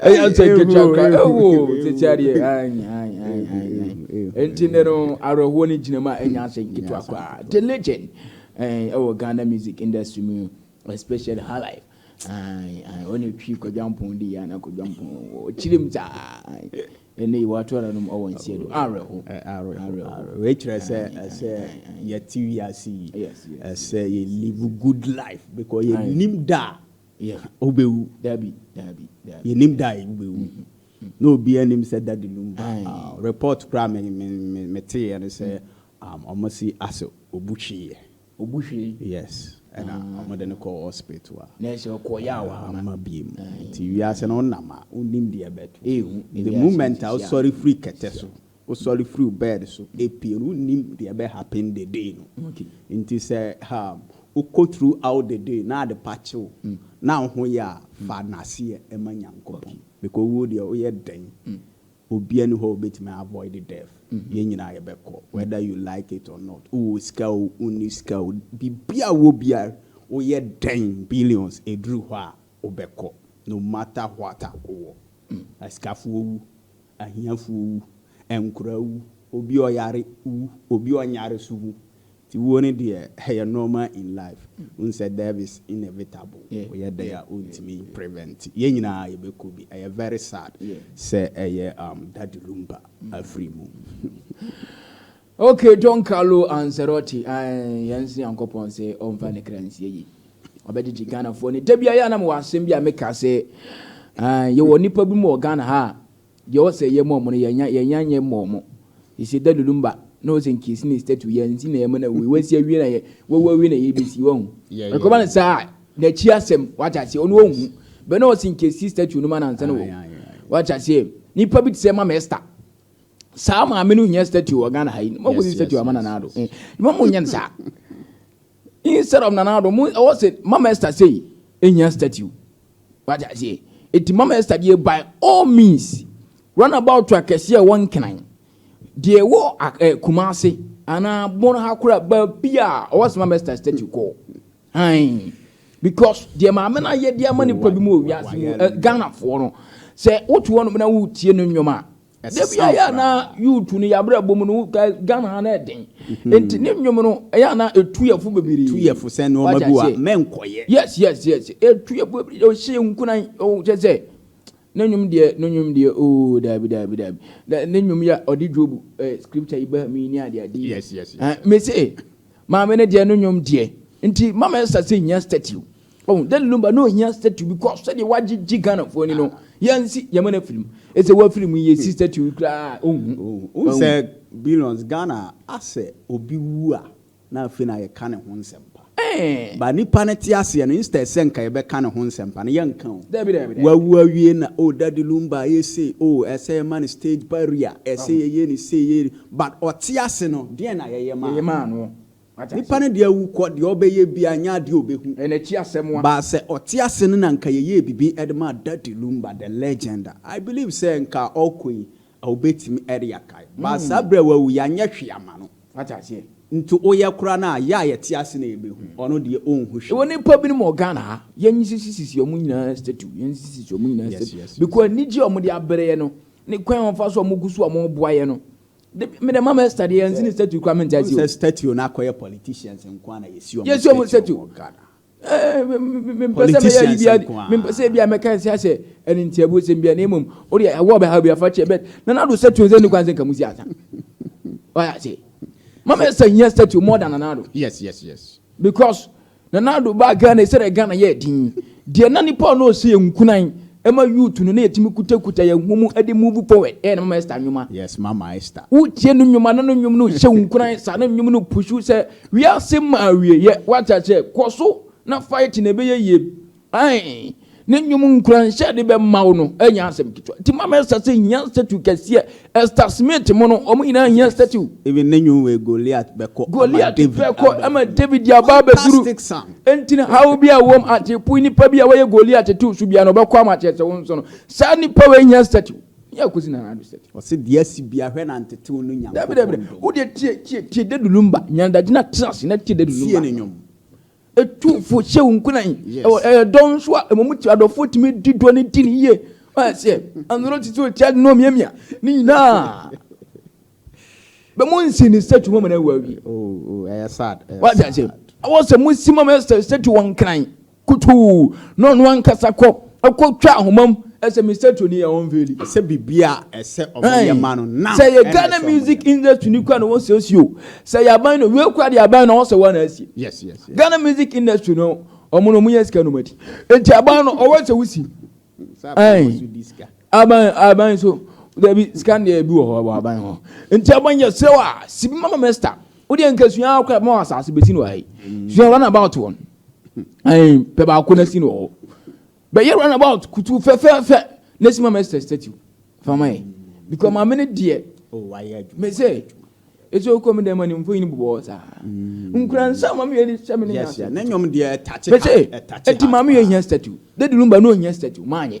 ɛyɛ asɛ nketewa kra ɛwɔ tete adeɛ ayi ayi ayi ayi nti ne no awerɛhoɔ ne gyina mu a ɛnyɛ asɛ nketewa kra the legend ɛwɔ ghana music industry mu especially high life ɔne twi kwadwampɔn di yɛ ana kwadwampɔn wɔ kyiri mu saa ɛnna yi wato ara nom ɔwɔ nsia do awerɛho awerɛho wei kyerɛ sɛ ɛsɛ yɛte wiase yi ɛsɛ yɛ live good life because yɛnim da a Wobɛwu, daabi, daabi, daabi. Yɛnim da a wobɛwu. Na obiara nim sɛ da de lumba. Report koraa me, me, me, meteeɛ no sɛ um, wɔasi asɛ obu hweeɛ. Obu hwee? Yes. Ɛna ah. wɔde no kɔɔ hospital a. Na ɛsɛ ɔkɔ yɛ awa ama. Ama bie mu. Nti wiase no wonam a, wonnim deɛ ɛbɛto. Ehu. The moment a wosɔre firi kɛtɛ so. Wosɔre firi wo bed so pue no wonnim deɛ ɛbɛ happen the day no nti sɛ wokɔ through out the day na adepa kye wo na wo ho yɛ a fa naseɛ ma Nyankopɔn because owuo deɛ woyɛ dɛn obia nni hɔ a obɛtumi avoid death yɛn nyinaa yɛbɛkɔ whether you like it or not wowɔ sika o wonni sika o biribiaa wowɔ biaa woyɛ dɛn billions ɛduru hɔ a Wobɛkɔ no matter what a wowɔ. Asikafoɔ wu, ahiafoɔ wu, nkoraa wu, obi a ɔyare wu, obi a ɔnyare nso wu. Nti wuo no deɛ ɛyɛ normal in life. Wohu sɛ death is inevitable. Woyɛ dɛn a wontumi prevent. Yɛn nyinaa yɛbɛkɔ bi. Ɛyɛ very sad sɛ ɛyɛ Daddy Lumba afiri mu. Ok Don Carlo Ancelotti ae yɛn se Nyankopɔn se ɔnfa ne kra nsi ayi ɔbɛgyegye Ghanafoɔ ni da biara yɛ a na mewɔ asem bi a meka se ae yɛwɔ nipa bi mu wɔ Ghana ha a deɛ ɔwɔ sɛ yɛma ɔmo no yɛnya yɛnya nyɛ mma ɔmo he se Daddy Lumba na ɔwɔ sɛ nka yɛsi ne statue yɛn nsi na yɛma no awie wasi awie na yɛ wawu awie na yɛbesi wahu ɛkɔba no saa a n'akyi asem wate aseɛ ɔno ɔnhu but na ɔwɔ sɛ nka yɛsi statue no ma no ansa na wawu wate aseɛ nipa bi te sɛ Mama Esther saa maame no nyɛ statue wɔ ghana ha yi mo kò si statue ama nana ado eh, mo mo nyɛ saa instead of nana ado mo ɛwɔ sɛ mama esther sɛyi ehia statue wagya seɛ eti mama esther deɛ by all means run about to akɛseɛ ɛwɔ nkenan deɛ ɛwɔ ɛɛ eh, kumase anaa bɔn ha kora baabi a ɔwɔ sɛ mama esther statue kɔɔ. Aane, because deɛ Maame no ayɛ de ama nipa bi mu wɔ wiase mu, eh, Ghanafoɔ no, sɛ wote hɔnom na wotie no nnwom a, da bi ayɛ a na youth no yɛabrabɔ mu no, Ghana ha na ɛden, mhm. nti ne nnwom no ɛyɛ a na ɛtu yɛfo bebree. Tu yɛfo sɛ nneɛma bi a mɛnkɔyɛ. Yes, yes, yes, ɛtu yɛfo bebree, ɔhyɛ nkunan, ɔkyɛ sɛ Ne nwom deɛ no nwom deɛ oo daabi daabi daabi na ne nwom yɛ ɔde Job eh, scripture yi ba mu yi ne ade ade yi yes, yes, yes, eh, mese maame no deɛ no nwom deɛ nti mama ɛsa sɛ hia statue Oh, that lumba no hia statue because sɛdeɛ wagye gye Ghana foɔ ni no ah. yɛnsi yɛma no afiri mu ɛsɛ wafiri mu yɛsi statue koraa ɔnhu ɔnhu sɛ billions Ghana asɛ obi wu a Na afei na yɛka ne ho nsɛmpa. But nipa no te aseɛ no instead sɛ nka yɛbɛka ne ho nsɛmpa no yɛnka o. Dabi dabi dabi. Wawu awie na oh daddy lumba ayɛ sei oh ɛsɛ yɛma no stage barrier ɛsɛ yɛyɛ no sei yɛyɛ no but ɔte ase no deɛn na yɛyɛ maa no. Yɛyɛ maa no. Wate aseɛ. Nipa no deɛ awu kɔ deɛ ɔbɛyɛ biara nyɛ adeɛ ɔbɛhu. Ɛyɛ n'akyi asɛm a. But sɛ ɔte ase no na nka yɛyɛɛ bibi de maa daddy lumba the legend a I believe sɛ nka ɔkɔ yi A Wobetumi de akae. But saa bere a wawu yi, anyɛ hwee amma no. Wate aseɛ? Nti woyɛ koraa no a, yɛ a yɛte ase na yɛbɛhu. Ɔno deɛ, ɔnhu hwee. Yɛwɔ nnipa binom wɔ Ghana ha, yɛnsisisisi wɔn nyinaa statue, yɛnsisisisi wɔn nyinaa Yes, statue. yes, yes. Because anigye a wɔde abrɛ yɛn no, ne kwan a wɔfa so a wɔgu so a wɔboa yɛn no, de, me deɛ Mama Esther deɛ, yɛnsi ne statue koraa, mente Wohu aseɛ o. sɛ statue no akɔyɛ politicians nko ara na yɛsi wɔn Yɛsi wɔn statue statue. wɔ Ghana. politicians nko ara. mempɛ sɛ ebi a mɛka nsia sɛ ɛne ntiabuo sɛm bia na mmom wode ɛwɔ ɔbɛhaw bi afa kyɛ bɛt na nado statue nsɛ ne kwan sɛ nka mu si asa wayɛ ase mama ɛsɛ hia statue more than nanado yes yes yes because nanado baa ghana ɛsɛ dɛ ghana yɛ din deɛ na nipa ɔno ɔsɛ yɛ nkunan ɛma youth no na yɛtumi kutakuta yɛn ho mu ɛde move forward ɛyɛ na mama ɛsta nwoma yes mama ɛsta wotie no nwoma na no nwom no hyɛ wo nkunan saa na nwom no pushu sɛ Wiase ma awieɛ wate aseɛ kɔ so na fight na ɛbɛyɛ yie ae ne nwom nkuranhyɛ a de bɛma wo no ɛnyɛ asɛm ketewa nti mama ɛsta sɛ hia statue kɛseɛ ɛsta smith mo no wɔn nyinaa hia statue. Even ne nwom wei Goliath bɛkɔ ama Goliath David bɛkɔ abɛduru. ama David de aba abɛduru Fantastic song. nti no haw bi a wɔm ate pui nipa bi a wɔyɛ Goliath to so biara no ɔbɛkɔ ama akyerɛ sɛ wo nso no saa nipa wei hia statue. Nea akosi na anadwo sɛ te. Ɔse deɛ asi bia hwɛ na ntetew no Nyankopɔn dɔ. Dabi dabi dabi wodeɛ tie tie tie dadu lumba nyanadagye na tena ase na tie dadu lumba. Tie ne nwom. Etu fo hyɛ wo nkunan. Ɛwɔ ɛyɛ dɔ nso a ɛmɔ mu ti adɔfoɔ tumi di dɔ ne di ne yie. Wɔn aseɛ anoro titi o tia no mia mia ne nyinaa. Bɛ mo nsi ne statue mama na ɛwɔ awie. Oh oh ɛyɛ sad. Wɔn aseɛ awɔ sɛ mo si mama statue wɔn nkran. Kotoo na ɔno ankasa kɔ kɔtwa ahoma mu sɛ Mister Tony a ɔnfeeli. Sɛ biribi a ɛsɛ ɔbɛyɛ ma no na. Sɛ ɛyɛ Ghana music industry no kura na wɔsiesie o, sɛ ɛyɛ aban no, wei kura deɛ aban no ɔwɔ sɛ wɔn na asie. Yes yes yes. Ghana music industry no wɔn no wɔn yɛ sika na wɔn adi. Nti aban no ɔwɔ sɛ wosi. Ayi aban aban nso dabi sika deɛ ebi wɔ hɔ wɔ aban hɔ. Nti aban yɛ srɛ wa sibi mama Mister. Wodeɛ nkesua akora ma wɔ asase besi na wɔ ha yi. Sua run about wɔn. Ɛn, pɛ baako na si no hɔ. Bɛyɛ run about kutu fɛfɛɛfɛ na si ma mɛ sɛ statue. Fama yɛ. Because maame no deɛ. Oh, wayɛ adwuma. Mɛ sɛ, ɛsɛ okɔ mi dɛm ma ne mfoyin bobɔ saa. Mm. Nkura nsa maame yɛ de hyɛ me ne Yes, yeah. Na nyom deɛ ɛtache ha. Mɛ sɛ, ɛti maame yɛ hia statue. Dadi lumba no hia statue. Maanyɛ.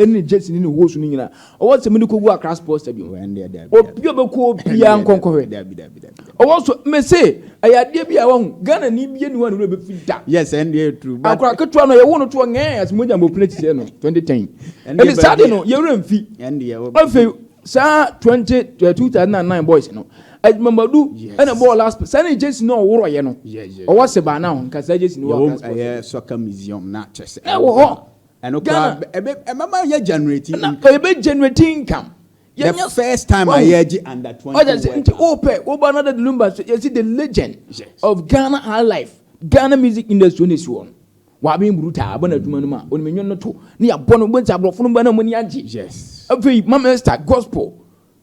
Ɛne Jesse ne ne host no nyina ɔwɔ sɛ mode kɔgu Accra Sports Stadium. Obi a ɔbɛkɔ hɔ biara nkɔnkɔ hwɛ. Ɔwɔ so mese ɛyɛ adeɛ bi a wahu Ghana ni biara ni hɔ a ne werɛ bɛfi da. Yes, ɛndeɛ ɛyɛ true. Akora ketewa no yɛwo no to hɔ ngɛɛ as mogya mbɔ pene kyesɛ no 2010. Ɛnde saa de no yɛwerɛ mfi. Afei saa 20 2009 boys no Adwuma Madu ɛna ɛbɔɔ last saa ne Jesse no a ɔworɔyɛ no ɔwɔ se baa now nka saa Jesse no wɔ Accra Sports Stadium. Ɛwɔ hɔ. Ɛno koraa Ghana. ɛbɛ ɛbɛma yɛ generate Ɛna income. ɛbɛ generate income. The Yɛnyɛ first time a Wahu. yɛregye under Ɔda twenty ase nti workers. wopɛ woba no dɛ lumba so yɛsi the legend Yes. of Ghana high life Ghana music industry na esi hɔ no waben brutal abɔ no adwuma no mu a onim nnwom no to na yɛabɔ no wobɛhu sɛ aborɔfo no ba no a wɔn ani agye Yes. afei mamesta gospel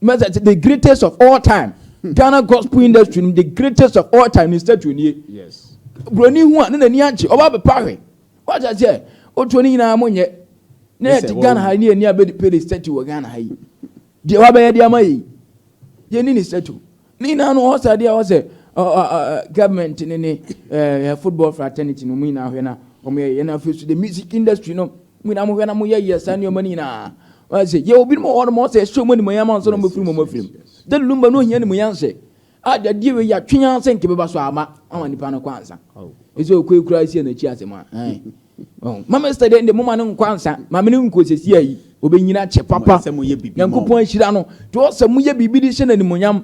mɛsɛ the greatest of all time ghana gospel industry no the greatest of all time ne statue nie yes buroni hu a ne n'ani agye ɔba bɛpa hwɛ wagya sɛ otuo ne nyinaa mo nyɛ na Yes, yɛ ti ɛwɔ ghana wo. ha yi ne yɛ ni abɛdi pere statue wɔ ghana ha yi deɛ wabɛyɛ deɛ ama yi yɛ ni ne statue Ne nyinaa no ɔsɛ adeɛ a ɔsɛ government ne ne eh, football fraternity no mu nyinaa hwɛ na wɔn yɛ yɛn afei so the music industry no mu nyinaa mo hwɛ na mo yɛ yɛ saa nneɛma no nyinaa ɔsɛ yɛ obi no wɔ hɔ no mo ɔsɛ ɛhyɛ wɔn animuonyam ansa na wɔn bɛfiri wɔn afiri mu de lumba no ohia animuonyam sɛ adeɛ wei yɛatwe yɛn asɛ nkebɛba so ama ama nipa no kɔ ansa ɛsɛ okɔ ekura esi ɛnakyi asɛm a Mama Esther dɛ ndɛ moma no nkɔ ansa maame no nkɔ sɛsia yi obenyin akyɛ papa Nyankopɔn ahyira no nti ɔwɔ sɛ moyɛ biribi de hyɛ no animonyam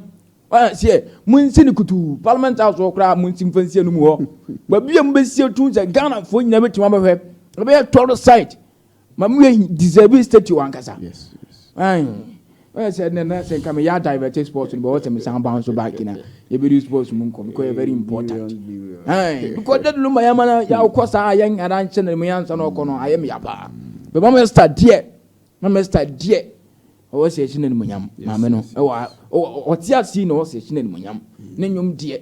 ɔyɛ aseɛ monsi no kutuu parliament house hɔ koraa monsi mfa nsi anum hɔ baabi a mobɛsi atum sɛ Ghanafoɔ nyina bɛtumi abɛhwɛ ɛbɛyɛ tɔro site maame wei deserve statue ankasa yes, yes. Ɔyɛ sɛ ɛnɛ na sɛ nka meyɛ adivɛte sports no bɛwɔ sɛ mesan ba nso back na yɛbɛdi sports mu nkɔ because yɛ very important because dadulu ma yɛma no yɛwokɔ saa a yɛnyara nkyɛ na mu yɛansa na ɔkɔ no ayɛ meya paa bɛma mɛsta deɛ ma mɛsta deɛ ɔwɔ sɛ ɛhyɛ no animonyam maame no ɔte ase na ɔwɔ sɛ ɛhyɛ no animonyam ne nnwom deɛ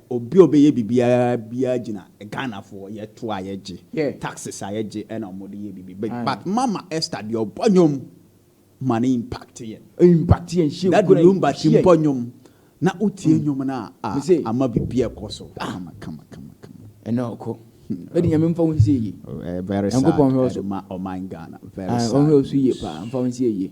Obi a ɔbɛyɛ biribiara biara gyina Ghanafoɔ yɛ to a yɛ gye, taxes a yɛ gye na ɔmo de yɛ biribi but but Mama Esther deɛ ɔbɔ nnwom ma no impact yɛn. Ɛ impact yɛn hyɛ nkuran. Daddy Lumba ti mbɔ nnwom na wo tie nnwom no a ah ama biribi ɛkɔ so kama kama kama kama. Ɛnɛ ɔkɔ. Daddy Nyame mfa wo nsie yie. Very sad Nyankopɔn nhwɛ wo so. Ɛde ma ɔman Ghana very sad news. Ɔnhwɛ wo so yie paa mfa wo nsie yie.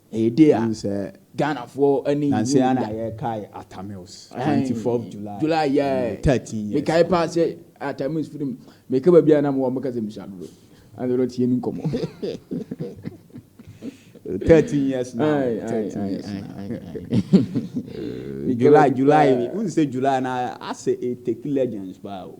Ɛyɛ day a Ghanafoɔ ani nnye ho da. Nansa yi ara na yɛrekae Atta Mills, 24th July, July yɛ 13 years. Mekae paa sɛ Atta Mills film, meka baabi a na mewɔ a wɔbɛka sɛ mesua dodo. Ɛnna ɔno tie ne nkɔmmɔ. 13 years now, 13 years now. July, July, who say July na I say it take legends paa o.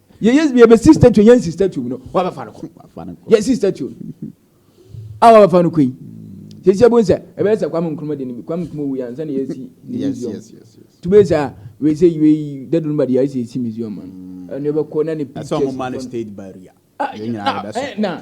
Yɛ yɛ yɛ bɛ si statue yɛn si statue no wa bɛ fa no kɔ yɛ si statue no a wa bɛ fa no kɔ yi sisi ebu nsɛ ebe nsɛ kwam nkuruma de ne bi kwam nkuruma wu yɛ ansa na yɛ si museum tube nsɛ a wei sɛ yɛ yi dadu no ba de yɛ si si museum ma no ɛnu yɛ bɛ kɔ na ne pictures ɛsɛ ɔmo ma no state barrier yɛ nyinaa yɛ bɛ sɔ na.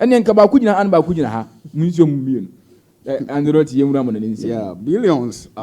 Ɛnneɛ nka baako gyina ha na baako gyina ha. Munhyia mu mmienu. Ɛ, Angelot, yɛnwura mo na ne nsi. Yeah, billions